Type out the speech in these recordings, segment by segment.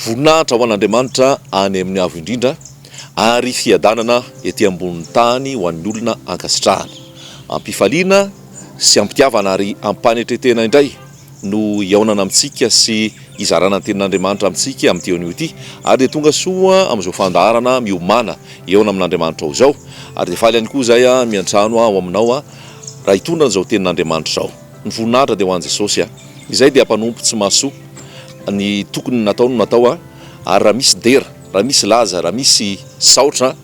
Voninahitra ho an'Andriamanitra any amin'ny Avo Indrindra, ary fiadanana ety ambonin'ny tany ho an'ny olona ankasitrahany. Am-pifaliana sy am-pitiavana ary am-panetren-tena indray. no hihaonana amintsika sy hizarana ny tenin'Andriamanitra amintsika amin'ity eo anio ity, ary dia tonga soa amin'izao fandaharana miomàna hihaona amin'Andriamanitrao izao, ary dia faly ihany koa izay aho miantrano aho aminao raha hitondra an'izao tenin'Andriamanitra izao. Ny voninahitra dia ho an'i Jesosy a! Izay dia mpanompo tsy mahasoa, ny tokony natao no natao a! ary raha misy dera, raha misy laza, raha misy saotra,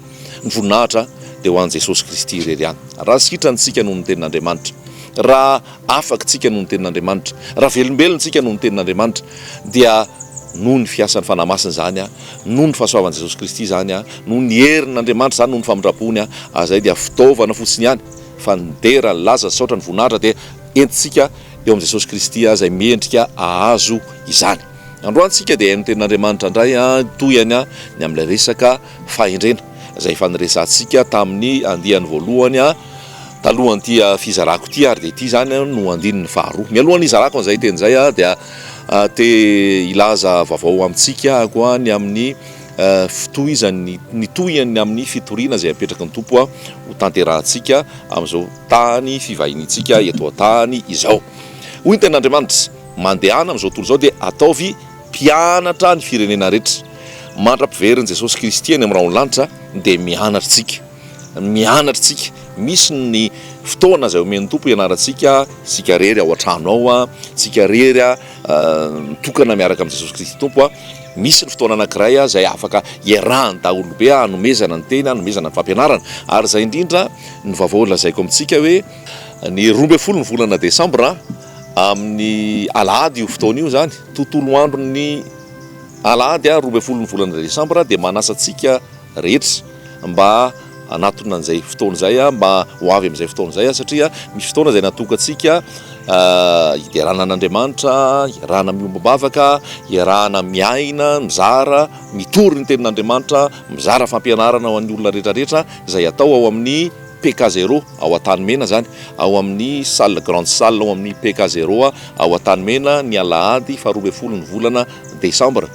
ny voninahitra dia ho an'i Jesosy Kristy irery ihany. Raha sitrany isika noho ny tenin'Andriamanitra, raha. Afaka isika noho ny Tenin'Andriamanitra. Raha velombelona isika noho ny Tenin'Andriamanitra, dia noho ny fiasan'ny Fanahy Masina izany, noho ny fahasoavan'i Jesosy Kristy izany, noho ny herin'Andriamanitra izany, noho ny famindram-pony, ary izay dia fitaovana fotsiny ihany, fa ny dera, ny laza, ny saotra, ny voninahitra dia entintsika eo amin'i Jesosy Kristy izay mendrika hahazo izany. Androany isika dia hihaino ny Tenin'Andriamanitra indray, tohihany ny amin'ilay resaka. fahendrena izay efa niresahantsika tamin'ny andiany voalohany talohan'ity fizarako ity ary dia ity izany no andininy faharoa. Mialohan'ny hizarako an'izay teny izay dia te hilaza vaovao amintsika koa ny amin'ny fitohizan'ny ny tohiny amin'ny fitoriana izay apetraky ny Tompo ho tanterahantsika amin'izao tany fivahiniantsika eto an-tany izao. Hoy ny tenin'Andriamanitra, mandehana amin'izao tontolo izao dia ataovy Mpianatra ny firenena rehetra. Mandra-piverin'i Jesosy Kristy any amin'ny rahonlanitra dia mianatra isika. Mianatra isika. Misy ny fotoana izay omen'ny Tompo hianarantsika isika irery ao an-trano ao, isika irery mitokana miaraka amin'i Jesosy Kristy Tompo. Misy ny fotoana anankiray izay afaka iarahan'ny daholobe hanomezana ny teny, hanomezana ny fampianarana. Ary izay indrindra ny vaovao lazaiko amintsika hoe ny roa ambin'ny folo ny volana desambra. Amin'ny alahady io fotoana io izany, tontolo andron'ny alahady roa ambin'ny folo ny volana desambra dia manasa antsika rehetra mba hanatona an'izay fotoana izay mba ho avy amin'izay fotoana izay satria misy fotoana izay natokantsika hiderana an'Andriamanitra, hiarahana miombom-bavaka, hiarahana miaina, mizara, mitory ny tenin'Andriamanitra, mizara fampianarana ho an'ny olona rehetra rehetra izay atao ao amin'ny PK zero ao Antanimena izany, ao amin'ny salle Grande Salle ao amin'ny PK zero ao Antanimena ny alahady faharoa ambin'ny folo ny volana desambra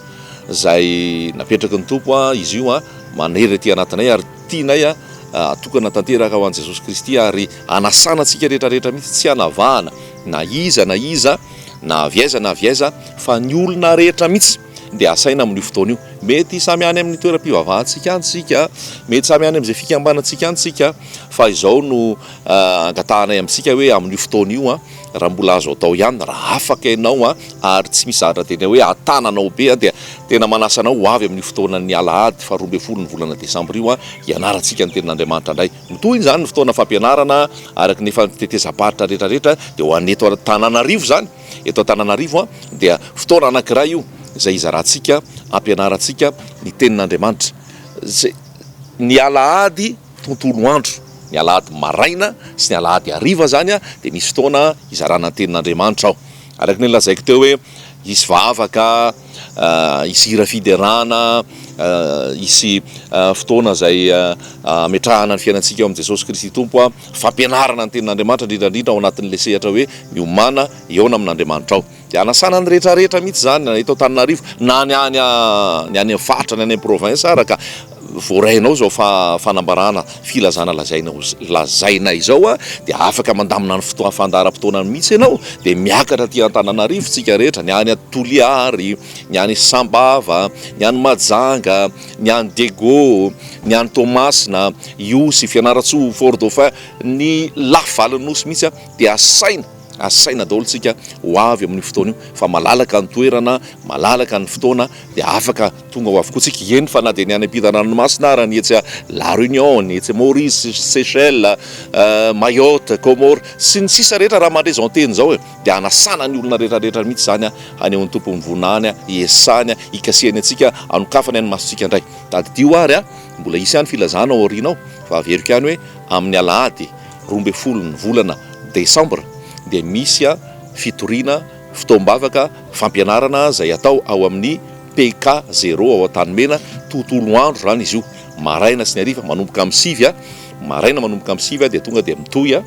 izay napetraky ny Tompo izy io manery aty anatinay ary tianay atokana tanteraka ho an'i Jesosy Kristy ary anasana antsika rehetra rehetra mihitsy tsy anavahana na iza na iza na avy aiza na avy aiza fa ny olona rehetra mihitsy dia asaina amin'io fotoana io. Mety samy any amin'ny toeram-pivavahantsika any isika, mety samy any amin'izay fikambanantsika any isika, fa izao no angatahanay amintsika hoe amin'io fotoana io an, raha mbola azo atao ihany, raha afaka ianao an, ary tsy misy zahatra tena hoe hatana anao be an, dia tena manasa anao ho avy amin'io fotoanan'ny alahady faha roa ambin'ny folo ny volana desambra io an, hianarantsika ny tenin'Andriamanitra indray. Mitohina izany ny fotoana fampianarana araka ny efa ny tetezam-paritra rehetra rehetra, dia ho an'ny eto Antananarivo izany. Eto Antananarivo dia fotoana anankiray io izay hizarantsika, hampianarantsika ny tenin'Andriamanitra. Ny alahady tontolo andro, ny alahady maraina sy ny alahady hariva izany dia misy fotoana hizarana ny tenin'Andriamanitra ao. Araka ny lazaiko teo hoe hisy vavaka. hisy hira fiderana, hisy fotoana izay hametrahana ny fiainantsika eo amin'i Jesosy Kristy Tompo a, fampianarana ny tenin'Andriamanitra indrindra indrindra ao anatin'ilay sehatra hoe miomàna hihaona amin'Andriamanitra aho. Dia hanasana ny rehetra rehetra mihitsy izany na eto Antananarivo na ny any ny any faritra ny any province ara ka. voarainao izao fanambarana filazana lazaina lazaina izao dia afaka mandamina ny fotoana fandaharam-potoana mihitsy ianao dia miakatra aty Antananarivo tsika rehetra ny any Toliary ny any Sambava ny any Mahajanga ny any Diego ny any Toamasina Ihosy Fianarantsoa Fort Dauphin ny lafivalon'ny Nosy mihitsy dia asaina Asaina daholo tsika ho avy amin'io fotoana io fa malalaka ny toerana, malalaka ny fotoana dia afaka tonga ao avokoa tsika, eny fa na dia ny any ampitan-dranomasina ara, ny etsy La Réunion, ny etsy Maurice, Seychelles, Mayotte, Comores sy ny sisa rehetra raha mandre izao teny izao e! dia anasana ny olona rehetra rehetra mihitsy izany hanehoan'ny Tompo ny voninahiny, hiesahany, hikasihany antsika, hanokafany any masontsika indray. Tadidio ary a! mbola hisy ihany filazana ao aoriana ao fa averiko ihany hoe amin'ny alahady. roa ambin'ny folo ny volana desambra dia misy fitoriana fotoam-bavaka fampianarana izay atao ao amin'ny PK zéro ao Antanimena, tontolo andro izany izy io, maraina sy ny hariva manomboka amin'ny sivy, maraina manomboka amin'ny sivy dia tonga dia mitohy,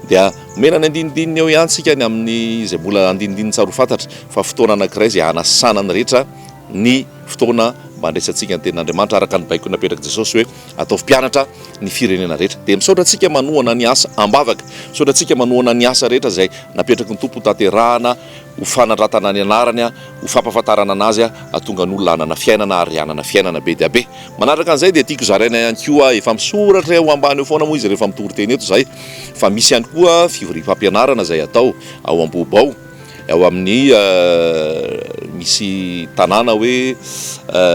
dia omena ny andinindininy eo ihany isika ny amin'izay mbola andinindininy tsara ho fantatra fa fotoana anankiray izay hanasana ny rehetra. ny fotoana mba handraisantsika ny tenin'Andriamanitra araka ny baiko napetrak'i Jesosy hoe ataovy mpianatra ny firenena rehetra. Dia misaotra antsika manohana ny asa am-bavaka. Misaotra antsika manohana ny asa rehetra izay napetraky ny Tompo hotanterahana, ho fanandratana ny anarany, ho fampahafantarana anazy, hahatonga ny olona hanana fiainana ary hanana fiainana be dia be. Manaraka an'izay dia tiako zaraina ihany koa, efa misoratra eo ambany eo foana moa izy rehefa mitoriteny eto izahay, fa misy ihany koa fivoriam-pampianarana izay atao ao Ambohoba ao, Ao amin'ny misy tanàna hoe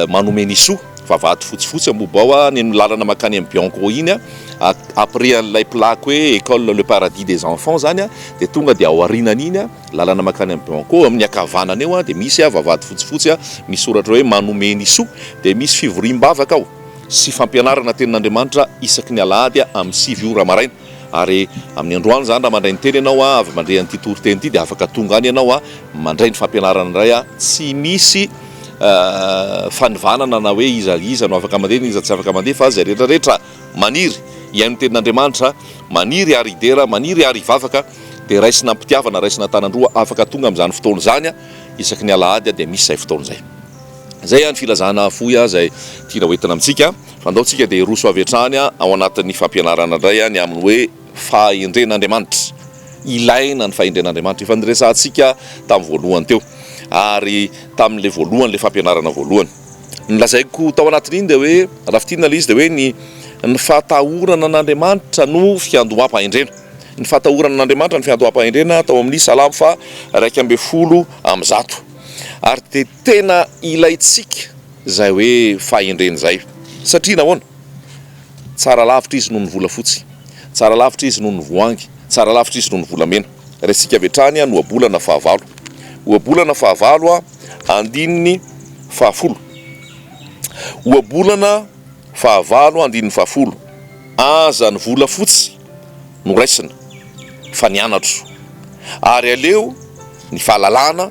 Manomenisoa, vavahady fotsifotsy amobo ao any amin'ny lalana mankany amin'ny Bianco iny, après an'ilay plaque hoe école le paradis des enfants izany dia tonga dia aorianan'iny lalana mankany amin'ny Bianco, eo amin'ny ankavanana eo dia misy vavahady fotsifotsy misy soratra hoe Manomenisoa, dia misy fivoriam-bavaka ao sy fampianarana tenin'Andriamanitra isaky ny alahady amin'ny sivy ora maraina. Ary amin'ny androany izany raha mandray ny teny ianao avy mandre an'ity toriteny ity dia afaka tonga any ianao mandray ny fampianarana indray tsy misy fanivanana na hoe iza iza no afaka mandeha na iza tsy afaka mandeha fa izay rehetra rehetra maniry hihaino ny tenin'Andriamanitra maniry ary hidera maniry ary hivavaka dia raisina am-pitiavana raisina an-tanan-droa afaka tonga amin'izany fotoana izany isaky ny alahady dia misy izay fotoana izay izay ihany filazana fohy izay tiana hoentina amintsika Andao tsika dia hiroso avy hatrany ao anatin'ny fampianarana indray ny amin'ny hoe fahendren'Andriamanitra. Ilaina ny fahendren'Andriamanitra. Efa niresahantsika tamin'ny voalohany teo ary tamin'ilay voalohany ilay fampianarana voalohany. Ny lazaiko tao anatin'iny dia hoe raha fintinina ilay izy dia hoe ny ny fatahorana an'Andriamanitra no fiandoham-pahendrena. Ny fatahorana an'Andriamanitra no fiandoham-pahendrena tao amin'ny Salamo faha iraika ambin'ny folo amby zato. Ary dia tena ilaintsika. Zay hoe fahendrena zay. Satria nahoana? Tsara lavitra izy noho ny volafotsy, tsara lavitra izy noho ny voahangy, tsara lavitra izy noho ny volamena. Raisintsika avy hatrany ny ohabolana fahavalo. Ohabolana fahavalo, andininy fahafolo. Ohabolana fahavalo, andininy fahafolo, Aza ny volafotsy no raisina, fa ny anatro. Ary aleo ny fahalalana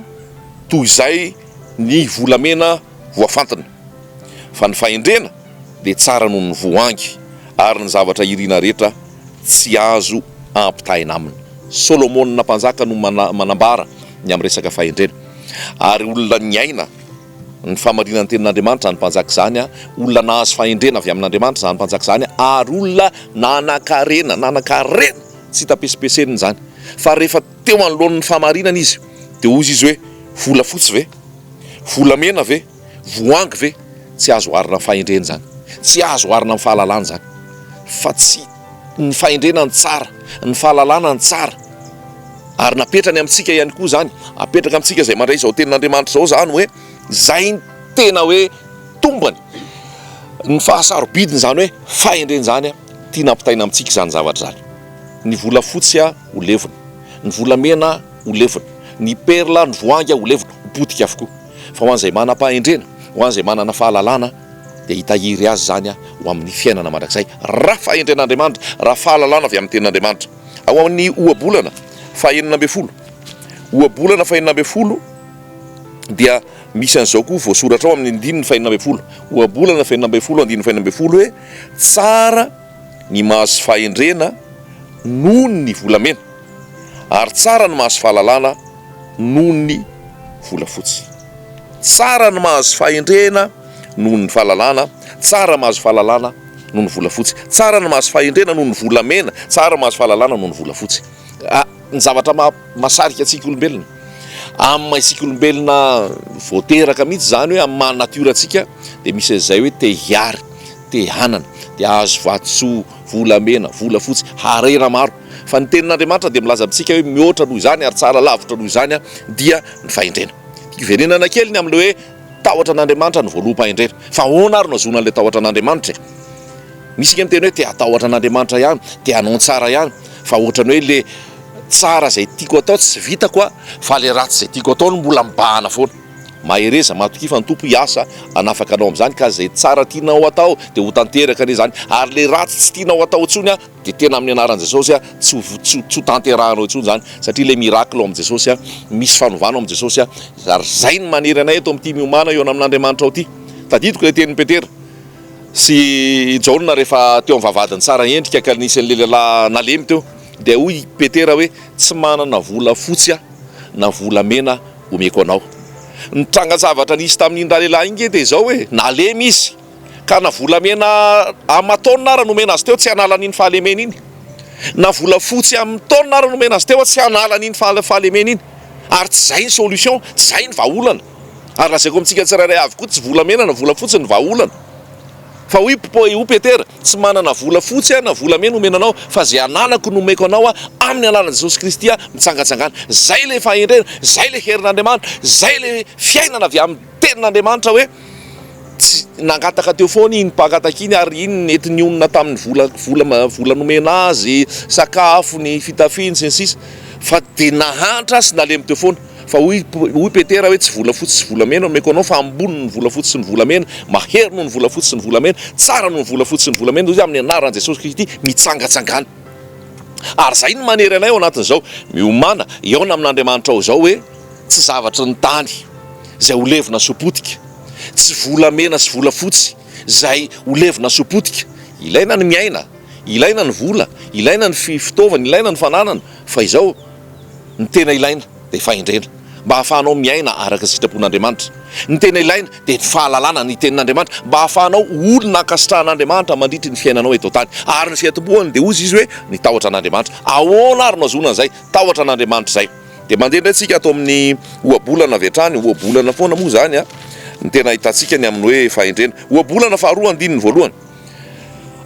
toy izay Ny volamena voafantina fa ny fahendrena dia tsara noho ny voahangy ary ny zavatra iriana rehetra tsy azo ampitahaina aminy. Solomona mpanjaka no manambara ny amin'ny resaka fahendrena ary olona niaina ny fahamarinan'ny tenin'Andriamanitra izany mpanjaka izany, olona nahazo fahendrena avy amin'Andriamanitra izany mpanjaka izany ary olona nanankarena, nanankarena tsy hita pesipesenina izany fa rehefa teo anoloan'ny fahamarinana izy. Dia hoy izy hoe, Volafotsy ve? Volamena ve? Voahangy ve? Tsy azo oharina amin'ny fahendrena izany. Tsy azo oharina amin'ny fahalalana izany. Fa tsy ny fahendrena no tsara, ny fahalalana no tsara. Ary napetrany amintsika ihany koa izany, apetraka amintsika izay mandray izao tenin'Andriamanitra izao izany hoe, izay no tena hoe tombony, ny fahasarobidiny izany hoe fahendrena izany, tiana ampitaina amintsika izany zavatra izany. Ny volafotsy ho levona, ny volamena. ho levona, ny perla, ny voanga ho levona, ho potika avokoa. Fa ho an'izay manam-pahendrena, ho an'izay manana fahalalana, dia hitahiry azy izany ho amin'ny fiainana mandrakizay, raha fahendren'Andriamanitra, raha fahalalana avy amin'ny Tenin'Andriamanitra. Ao amin'ny ohabolana fahenina ambin'ny folo, ohabolana fahenina ambin'ny folo, dia misy an'izao koa voasoratra ao amin'ny andininy fahenina ambin'ny folo, ohabolana fahenina ambin'ny folo, andininy fahenina ambin'ny folo, hoe, Tsara ny mahazo fahendrena noho ny volamena. ary tsara ny mahazo fahalalana noho ny volafotsy. Tsara ny mahazo fahendrena noho ny fahalalana, tsara mahazo fahalalana noho ny volafotsy. Tsara ny mahazo fahendrena noho ny volamena, tsara mahazo fahalalana noho ny volafotsy. A, Ny zavatra maha, masarika antsika olombelona, amin'ny maha isika olombelona vao teraka mihitsy izany hoe amin'ny maha natiora antsika dia misy an'izay hoe te hiary, te hanana, te hahazo vatosoa, volamena, volafotsy, harena maro. Fa ny Tenin'Andriamanitra dia milaza amintsika hoe mihoatra noho izany ary tsara lavitra noho izany dia ny fahendrena. Hiverenana kely ny amin'ilay hoe tahotra an'Andriamanitra ny voaloham-pahendrena. Fa ahoana ary no ahazoana an'ilay tahotra an'Andriamanitra e? Misy ange ny miteny hoe te hatahotra an'Andriamanitra ihany, te hanao ny tsara ihany, fa ohatran'ny hoe ilay tsara izay tiako atao tsy vitako fa ilay ratsy izay tiako atao no mbola mibahana foana. Mahereza, matokia fa ny Tompo hiasa hanafaka anao amin'izany ka izay tsara tianao atao dia ho tanteraka anie izany ary ilay ratsy tsy tianao atao intsony Dia tena amin'ny anaran'i Jesosy a, tsy ho vo, tsy ho, tsy ho tanterahanao intsony izany, satria ilay miracle ao amin'i Jesosy a, misy fanovana ao amin'i Jesosy a, ary izay no manery anay eto amin'ity miomana eo amin'Andriamanitra ao ity. Tadidiko ilay tenin'i Petera sy i Jaona rehefa teo amin'ny vavahadin'i Tsara endrika ka nisy an'ilay lehilahy nalemy teo, dia hoy i Petera hoe, tsy manana vola fotsy aho na vola mena omeko anao. Ny trangan-javatra nisy tamin'iny ralehilahy iny nge dia izao hoe, nalemy izy. Ka na volamena aman-taonina ara nomena azy teo tsy hanala an'iny fahalemena iny, na volafotsy amin-taonina ara nomena azy teo tsy hanala an'iny fahalemena iny. Ary tsy izay ny solution, tsy izay ny vahaolana. Ary lazaiko amintsika tsirairay avy koa tsy volamena na volafotsy ny vahaolana. Fa hoy hoy Petera, tsy manana volafotsy aho na volamena homena anao fa izay ananako no omeko anao aho amin'ny alalan'i Jesosy Kristy aho mitsangatsangana. Izay ilay fahendrena, izay ilay herin'Andriamanitra, izay ilay fiainana avy amin'ny. Tenin'Andriamanitra hoe tsy nangataka teo foana iny mpaka takia iny ary iny nety nionona tamin'ny vola vola vola nomena azy, sakafony, fitafiany sy ny sisa fa dia nahantra sy nalemy teo foana fa hoy hoy Petera hoe tsy volafotsy sy volamena no omeko anao fa ambony ny volafotsy sy ny volamena, mahery noho ny volafotsy sy ny volamena, tsara noho ny volafotsy sy ny volamena hoy izy amin'ny anaran'i Jesosy Kristy mitsangatsangana. Ary izay no manery anay ao anatin'izao, miomàna hihaona amin'Andriamanitra ao izao hoe. Tsy zavatry ny tany izay ho levona sy ho potika, tsy volamena sy volafotsy izay ho levona sy ho potika. Ilaina ny miaina, ilaina ny vola, ilaina ny fitaovana, ilaina ny fananana, fa izao, ny tena ilaina dia fahendrena, mba hahafahanao miaina araka ny sitrapon'Andriamanitra. Ny tena ilaina dia ny fahalalana ny Tenin'Andriamanitra, mba hahafahanao ho olona ankasitrahan'Andriamanitra mandritra ny fiainanao eto an-tany. Ary ny fiantombohany dia hoy izy hoe, Ny tahotra an'Andriamanitra. Ahoana ary no ahazoana an'izay tahotra an'Andriamanitra izay? Dia mandeha indray tsika ato amin'ny ohabolana avy hatrany, ohabolana foana moa izany an, ny tena ahitantsika ny amin'ny hoe fahendrena. Ohabolana faharoa andininy voalohany,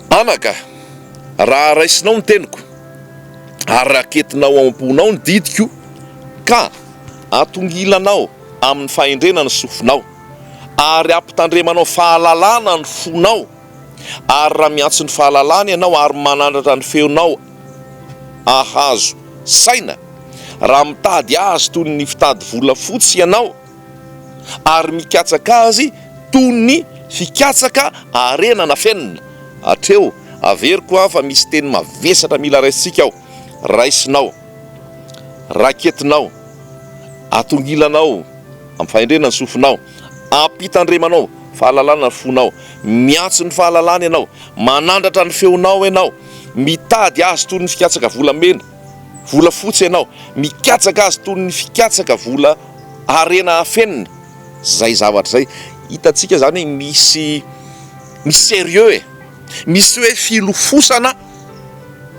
Anaka, raha raisinao ny teniko, ary raketinao ao am-ponao ny didiko, ka atongilanao amin'ny fahendrena ny sofinao, ary ampitandremanao fahalalana ny fonao, ary raha miantso ny fahalalana ianao ary manandratra ny feonao, Ahazo saina raha mitady azy toy ny fitady volafotsy ianao, ary mikatsaka azy toy ny fikatsaka harena nafenina. Hatreo, averiko an fa misy teny mavesatra mila raisintsika ao, raisinao, raketinao, atongilanao amin'ny fahendrena ny sofinao, ampitandremanao fahalalana ny fonao, miantso ny fahalalana ianao, manandratra ny feonao ianao, Mitady azy toy ny fikatsaka volamena, volafotsy ianao, mikatsaka azy toy ny fikatsaka vola harena afenina, zay zavatra zay, hitantsika zany hoe misy misy sérieux e! misy hoe filofosana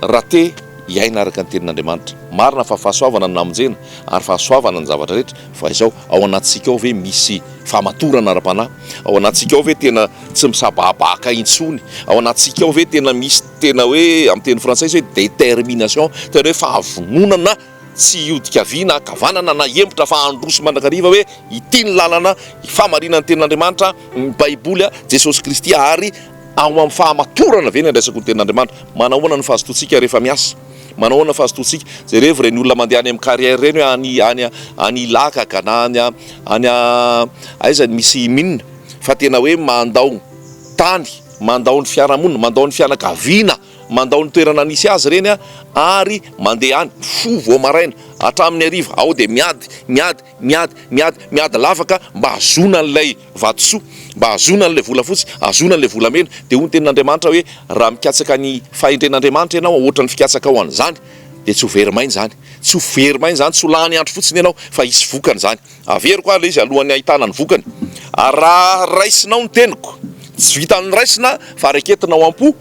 raha te hiaina araka ny tenin'Andriamanitra, marina fa fahasoavana no namonjena ary fahasoavana ny zavatra rehetra, Fa izao, ao anatintsika ao ve misy fahamatorana ara-panahy? Ao anatintsika ao ve tena tsy misabahabaka intsony? Ao anatintsika ao ve tena misy tena hoe, amin'ny teny frantsay izy hoe détermination, tena hoe fahavononana tsy hiodika havia na ankavanana na hihemotra fa handroso sy mandrakariva hoe ity ny lalana, ny fahamarinana ny tenin'Andriamanitra, ny Baiboly, Jesosy Kristy ary ao amin'ny fahamatorana ve ny handraisako ny tenin'Andriamanitra? Manahoana ny fahazotoantsika rehefa miasa? Manao ahoana fa azotoantsika? Jerevo ireny olona mandeha any amin'ny carrière ireny hoe any any any Ilakaka na any any aiza ny misy mine fa tena hoe mandao tany, mandao ny fiarahamonina, mandao ny fianakaviana, mandao ny toerana nisy azy ireny ary mandeha any mifoha vao maraina hatramin'ny hariva ao dia miady, miady, miady, miady, miady lavaka mba hahazoana an'ilay vatosoa mba hahazoana an'ilay volafotsy, hahazoana an'ilay volamena. Dia hoy ny Tenin'Andriamanitra hoe, Raha mikatsaka ny fahendren'Andriamanitra ianao hoatra ny fikatsakao an'izany, dia tsy ho very maina izany. Tsy ho very maina izany, tsy ho lany andro fotsiny ianao, fa hisy vokany izany. Averiko ary ilay izy alohan'ny hahitana ny vokany. Ary raha raisinao ny teniko, tsy vitan'ny raisina fa raiketinao am-po,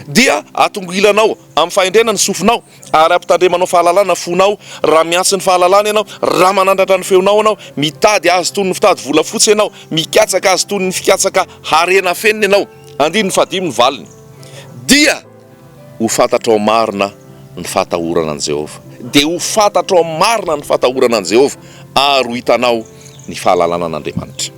dia atongilanao amin'ny fahendrena ny sofinao, Ary ampitandremanao fahalalana fonao raha miantsy ny fahalalana ianao, raha manandratra ny feonao ianao, mitady azy toy ny fitady volafotsy ianao, mikatsaka azy toy ny fikatsaka harena afenina ianao. Andininy fahadimy ny valiny, Dia ho fantatrao marina ny fahatahorana an'i Jehovah. Dia ho fantatrao marina ny fahatahorana an'i Jehovah, ary ho hitanao ny fahalalana an'Andriamanitra.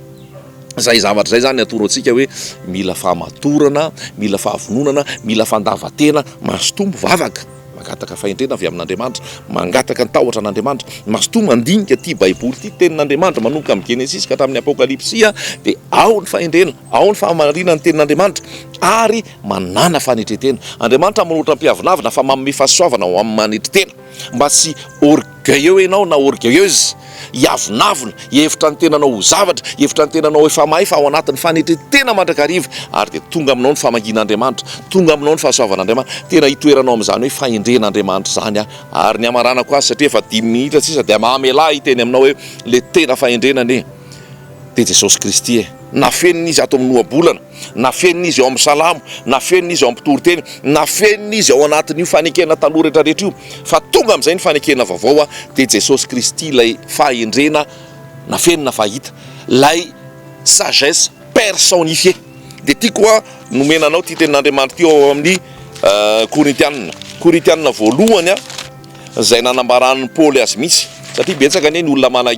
Izay zavatra izay izany atoro antsika hoe mila fahamatorana, mila fahavononana, mila fandavan-tena, mazotoa mivavaka, mangataka fahendrena avy amin'Andriamanitra, mangataka ny tahotra an'Andriamanitra, mazotoa mandinika ity Baiboly ity, Tenin'Andriamanitra, manomboka amin'ny Genesisy ka hatramin'ny Apôkalipsy, dia ao ny fahendrena, ao ny fahamarinan'ny Tenin'Andriamanitra ary manàna fanetren-tena. Andriamanitra manoatra ny mpiavonavona fa manome fahasoavana ho amin'ny manetry tena. Mba tsy orgueilleux ianao na orgueilleuse, hiavonavona, hihevitra ny tenanao ho zavatra, hihevitra ny tenanao ho efa mahay fa ao anatin'ny fanetren-tena mandrakariva ary dia tonga aminao ny famangian'Andriamanitra, tonga aminao ny fahasoavan'Andriamanitra, tena hitoeranao amin'izany hoe fahendren'Andriamanitra izany aho ary ny hamaranako azy satria efa dimy minitra sisa dia mamelà hiteny aminao hoe ilay tena fahendrena anie dia Jesosy Kristy e! Nafenina Izy ato amin'ny ohabolana. Nafenina izy ao amin'ny salamo, nafenina izy ao amin'ny mpitoriteny, nafenina izy ao anatin'io fanekena taloha rehetra rehetra io, fa tonga amin'izay ny fanekena vaovao a, dia Jesosy Kristy ilay fahendrena nafenina fa hita, ilay sagesse personnifiée. Dia ity koa nomena anao ity tenin'Andriamanitra ity ao amin'ny Korintianina, Korintianina voalohany a. Izay nanambaran'i Paoly azy mihitsy. Satria betsaka anie ny olona mana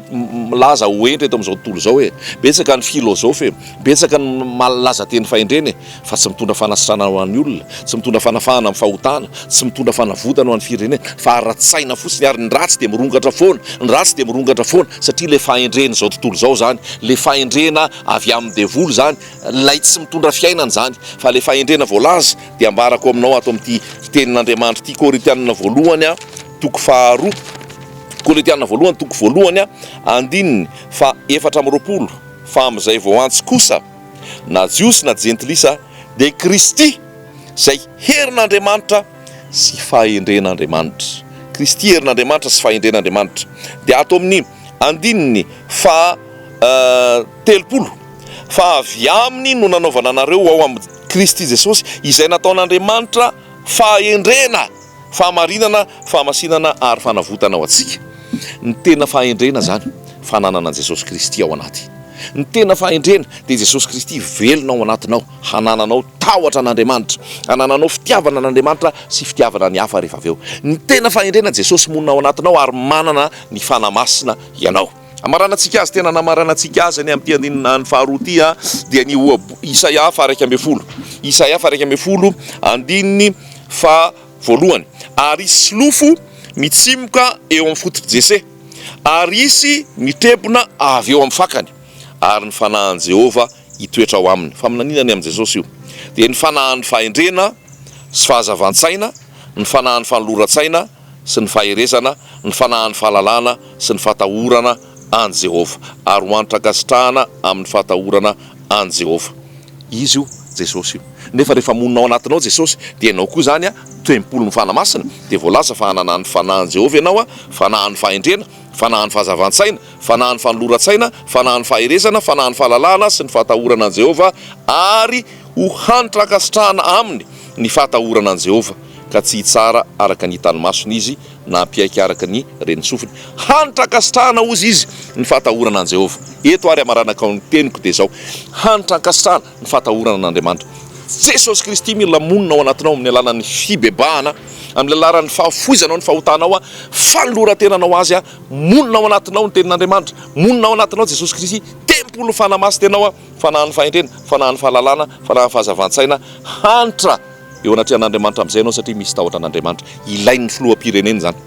milaza ho hentra eto amin'izao tontolo izao e! Betsaka ny filôzôfy e! Betsaka ny malaza teny fahendrena e! Fa tsy mitondra fanasitranana ho an'ny olona, tsy mitondra fanafahana amin'ny fahotana, tsy mitondra fanavotana ho an'ny firenena, fa ara-tsaina fotsiny ary ny ratsy dia mirongatra foana, ny ratsy dia mirongatra foana satria ilay fahendren'izao tontolo izao izany, ilay fahendrena avy amin'ny devoly izany, ilay tsy mitondra fiainana izany. Fa ilay fahendrena voalaza Dia ambarako aminao ato amin'ity fitenin'Andriamanitra ity, Korintianina voalohany toko faharoa, Korintianina voalohany toko voalohany andininy fahaefatra amby roapolo, Fa amin'izay vao antso kosa, na Jiosy na Jentilisa, dia Kristy, izay herin'Andriamanitra sy fahendren'Andriamanitra. Kristy herin'Andriamanitra sy fahendren'Andriamanitra. Dia ato amin'ny andininy faha telopolo, Fa avy aminy no nanaovana anareo ao amin'ny. Kristy Jesosy, izay nataon'Andriamanitra fahendrena, fahamarinana, fahamasinana ary fanavotana ho antsika. Ny tena fahendrena izany, fananana an'i Jesosy Kristy ao anaty. Ny tena fahendrena dia i Jesosy Kristy velona ao anatinao, hanananao tahotra an'Andriamanitra, hanananao fitiavana an'Andriamanitra sy fitiavana ny hafa rehefa avy eo. Ny tena fahendrena, Jesosy monina ao anatinao ary manana ny Fanahy Masina ianao. Hamaranantsika azy, tena namaranantsika azy anie amin'ity andininy faharoa ity dia ny ohabolana, Isaia faha iraika ambin'ny folo, Isaia faha iraika ambin'ny folo andininy faha voalohany, Ary hisy solofo mitsimoka eo amin'ny fototr'i Jese, ary hisy mitrebona avy eo amin'ny fakany, ary ny fanahin'i Jehovah hitoetra ao aminy. Faminaniana ny amin'i Jesosy io, dia ny fanahin'ny fahendrena sy fahazavan-tsaina, ny fanahin'ny fanoloran-tsaina, sy ny faherezana, ny fanahin'ny fahalalana sy ny fahatahorana an'i Jehovah, ary ho antr'ankasitrahana amin'ny fahatahorana an'i Jehovah. Izy io, Jesosy io. Nefa rehefa monina ao anatinao Jesosy, dia ianao koa izany tempolin'ny Fanahy Masina, dia voalaza fa hanana ny fanahin'i Jehovah ianao, fanahin'ny fahendrena, fanahin'ny fahazavan-tsaina, fanahin'ny fanoloran-tsaina, fanahin'ny faherezana, fanahin'ny fahalalana sy ny fahatahorana an'i Jehovah, ary ho antr'ankasitrahana aminy ny fahatahorana an'i Jehovah. ka tsy hitsara araka ny hitan'ny masony izy, na hampiaiky araka ny ren'ny sofiny. Hanitra ankasitrahana, hozy izy, ny fahatahorana an'i Jehovah. Eto àry hamaranako ny teniko, dia izao, Hanitra ankasitrahana ny fahatahorana an'Andriamanitra. Jesosy Kristy mila monina ao anatinao amin'ny alalan'ny fibebahana, amin'ny alalan'ny fahafoizanao ny fahotanao, fanoloran-tenanao azy. Monina ao anatinao ny Tenin'Andriamanitra. Monina ao anatinao Jesosy Kristy, tempolin'ny Fanahy Masina ianao, Fanahin'ny fahendrena, Fanahin'ny fahalalana, Fanahin'ny fahazavan-tsaina. Hanitra! Eo anatrehan'Andriamanitra amin'izay ianao satria misy tahotra an'Andriamanitra. Ilain'ny filoham-pirenena izany.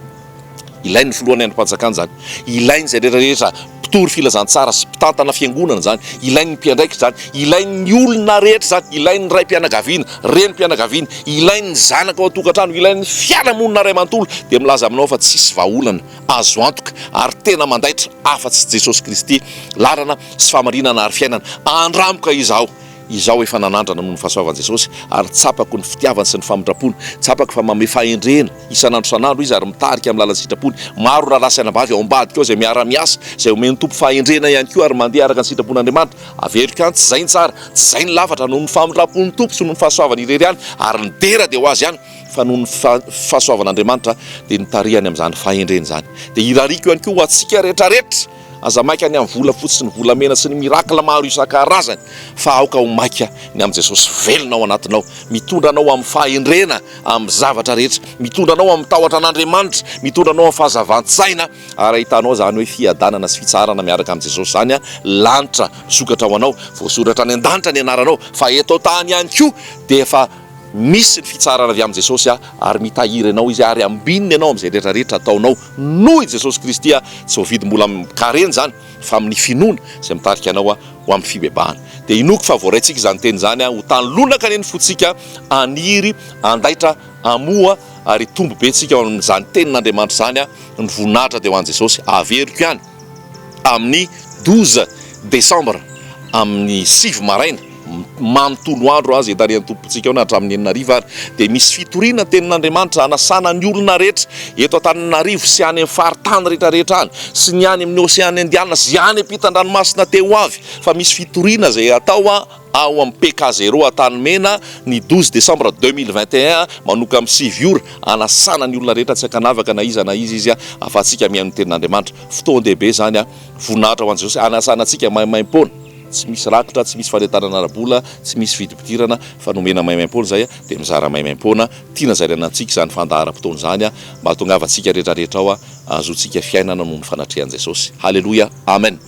Ilain'ny filohan'ny andrim-panjakana izany. Ilain'izay rehetra rehetra mpitory filazantsara sy mpitantana fiangonana izany. Ilain'ny mpiandraikitra izany. Ilain'ny olona rehetra izany. Ilain'ny raim-pianakaviana, renim-pianakaviana. Ilain'ny zanaka ao an-tokantrano. Ilain'ny fiarahamonina iray manontolo. Dia milaza aminao aho fa tsisy vahaolana azo antoka ary tena mandaitra afa-tsy Jesosy Kristy, lalana sy fahamarinana ary fiainana. Andramboka izaho. Izaho efa nanandrana noho ny fahasoavan'i Jesosy ary tsapako ny fitiavany sy ny famindrampony. Tsapako fa manome fahendrena isan'andro isan'andro Izy ary mitarika amin'ny lalan'ny sitrapony. Maro ny rahalahy sy anabavy ao ambadika ao izay miara-miasa, izay omen'ny Tompo fahendrena ihany koa ary mandeha araka ny sitrapon'Andriamanitra. Averiko any, tsy izay ny tsara, tsy izay ny lafatra, noho ny famindrampon'ny Tompo sy noho ny fahasoavany irery ihany ary ny dera dia ho azy ihany fa noho ny fahasoavan'Andriamanitra dia nitarihany amin'izany fahendrena izany. Dia irariako ihany koa ho antsika rehetrarehetra. Aza maika ny amin'ny volafotsy sy ny volamena sy ny miracle maro isan-karazany fa aoka ho maika ny amin'i Jesosy velona ao anatinao, mitondra anao amin'ny fahendrena amin'ny zavatra rehetra, mitondra anao amin'ny tahotra an'Andriamanitra, mitondra anao amin'ny fahazavan-tsaina ary ahitanao izany hoe fiadanana sy fitsaharana miaraka amin'i Jesosy izany an, lanitra misokatra ho anao, voasoratra any an-danitra ny anaranao fa eto an-tany ihany koa dia efa misy ny fitsaharana avy amin'i Jesosy ary mitahiry anao Izy ary ambininy ianao amin'izay rehetra rehetra ataonao. Noho i Jesosy Kristy aho, tsy voavidy mbola amin-karena izany, fa amin'ny finoana izay mitarika anao aho ho amin'ny fibebahana. Dia inoako fa voaraintsika izany teny izany aho, ho tany lonaka anie ny fontsika, haniry handaitra hamoa ary hitombo be tsika ao amin'izany tenin'Andriamanitra izany aho, ny voninahitra dia ho an'i Jesosy, averiko ihany. amin'ny douze desambra amin'ny sivy maraina manontolo andro aza hitarihan'ny Tompontsika ao na hatramin'ny enina hariva ary dia misy fitoriana ny tenin'Andriamanitra hanasana ny olona rehetra eto Antananarivo sy any amin'ny faritany rehetra rehetra any sy ny any amin'ny oseana indianina sy any ampitan-dranomasina te ho avy fa misy fitoriana izay atao Ao amin'ny PK Zero Antanimena, ny douze décembre deux mille vingt et un, manomboka amin'ny sivy ora, hanasana ny olona rehetra tsy ankanavaka na iza na iza izy, ahafahantsika mihaino ny Tenin'Andriamanitra. Fotoan-dehibe izany. Voninahitra ho an'i Jesosy, hanasana antsika maimaimpoana. Tsy misy rakitra, tsy misy fanentanana ara-bola, tsy misy fidim-pidirana, fa nomena maimaimpoana izay, dia mizara maimaimpoana. Tiana zaraina amintsika izany fandaharam-potoana izany, mba hahatongavantsika rehetrarehetra ao, hahazoantsika fiainana noho ny fanatrehan'i Jesosy. Haleloia! Amen!